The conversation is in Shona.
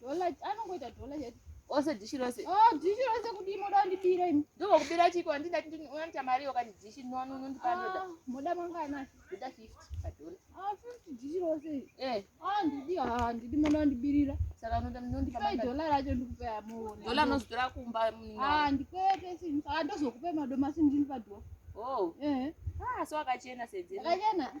Dollar anongoita dollar yet. Ose dishi rose. Oh, dishi rose kudii moda kundibira imi. Ndiko kubira chiko andida kuti unoita mari yoka dishi no no no ndipa ndoda. Ah, moda mangana. Ndoda 50 pa dollar. Ah, 50 dishi rose. Eh. Ah, ndidi ah ndidi moda kundibirira. Saka unoda ndondipa mari. Sai dollar racho ndikupe amuone. Dollar nozodora kumba. Mm, ah, ndikupe sini. Ah, ndozokupe madomasi ndini pa dollar. Oh. Eh. Ah, so akachena sedzera. Akachena.